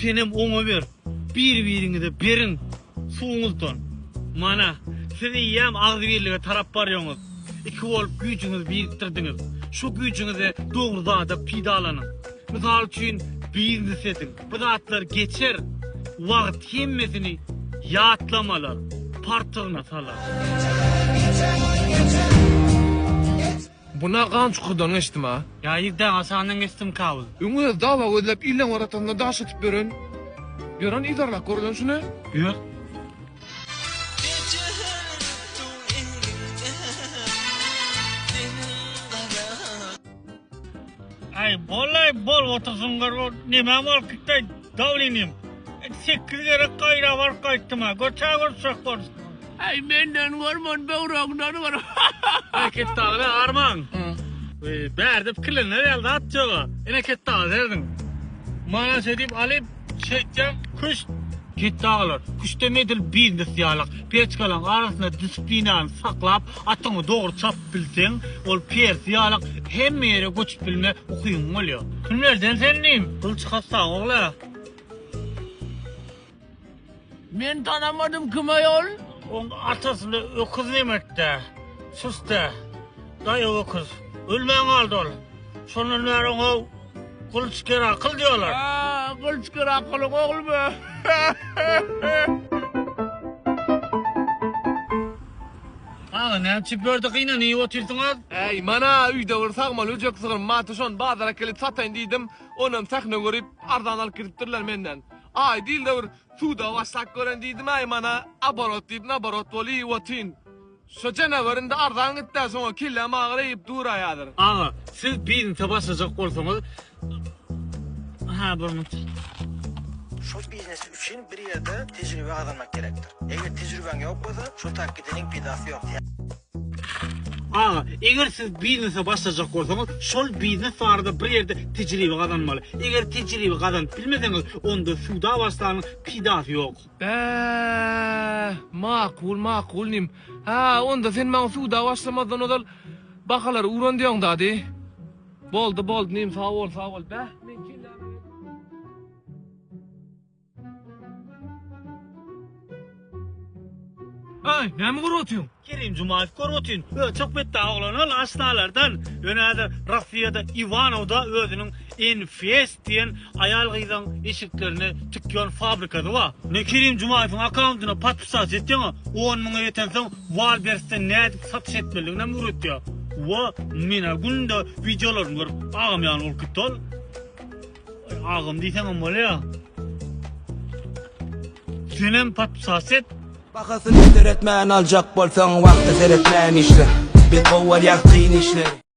Senem oňa ber. Bir-biriňize beriň. Suwuňuzdan. Mana, siz eýýäm agzybirlige tarap barýoňyz. Iki bolup güýjüňizi birikdirdiňiz. Şu güýjüňizi dogry zada pidalanyň. Mysal üçin, biznes ediň. Bu zatlar geçer. Wagt hemmesini ýatlamalar, partygyna salar. Bu ne gan çukurdan geçdim a. Ya yigdä aşagyndan geçdim kabyl. Öň öz dawa gözläp illeň oratasynda daş atyp ýören ýören yzarlak görlen şu ne. Ýör. Aý bolaý bol otur suňňur bol neme bol kitleý. Saol inim. Sekiz gerek gaýra baryp gaýtdym-a. Göçä görüşjek bolduk. Aý menden görme ony böwregimden gör. Aý Ketdagyly armaň. Bärde pikirlenler ýaly zat ýoga. Ine Ketdagy serediň. Mana şeýdip alyp şeýtýän küşt. Ketdagylar küştdem edil biznes ýalak. Peçkalaň arasynda disiplinany saklap. Atyňy dogry çapyp bilseň, ol Persi ýalak hemme ýere göçüp bilme ukyň bolýar. Kimlerden sen diýim? Gylyç hassaň ogly. Men tanamadym kime ol. Oň atasyny öküz nemekde, süste, daýaw öküz. Ölmän galdy ol. Şondan bäri oňa Gylyç Kerakyl diýýärler. Aa, Gylyç Kerakylyň oglumy? Aga näme çiperdi gynanyp otyrsyňyz? Äý, mana öýde bir sagmaly öjek sygyr bardy, şony bazara äkelip sataýyn diýdim. Onam sähne görüp, arzan alyp gidipdirler menden. Aý, diýil-de bir suda başlap gören diýdim-äý, mana aborot diýip naborot bolup iýip otyryn. Şo jenewar indi arzan gitdi-ä, şoňa kelläm agyr eýip duraýadyr. Aga, siz biznese başlajak bolsaňyz, Aha burnuç. Şol biznes üçin bir ýerde tejribe gazanmak gerekdir. Eger tejribeň ýok bolsa, şol tak gideniň peýdasy ýok. Aga, eger siz biznese başlajak bolsaňyz, şol biznes barada bir ýerde tejribe gazanmaly. Eger tejribe gazanyp bilmeseňiz, onda suda başlanyň, peýdasy ýok. Bäh, makul, makul nim. Hä, onda sen maňa suda başlamazdan ozal bahalary uran diýoň dady. Boldy boldy nim sag bol sag bol beh men kelle Ay, näme görüp otyň? Kerim Jumaýew görüp otyn. Ö, çok betde oglan ol aştalardan. Ýöne häzir Rossiýada Iwanowda özüniň enfes diýen aýal-gyzyň eşiklerini tikýän fabrikasy bar. Men Kerim Jumaýewiň akkauntyna podpisat etýän-a, on müňe ýetensoň Wallbersden nädip satyş etmelidiginem öwretýär. Wo, men-ä günde wideolaryny görüp, agam ýaly bolup gitdi ol. Agam diýseňem bolýa. Senem podpisat et. Bahasyny seretmän aljak bolsaň wagta seretmän işle. Biz gowy bolýas kyn işleri.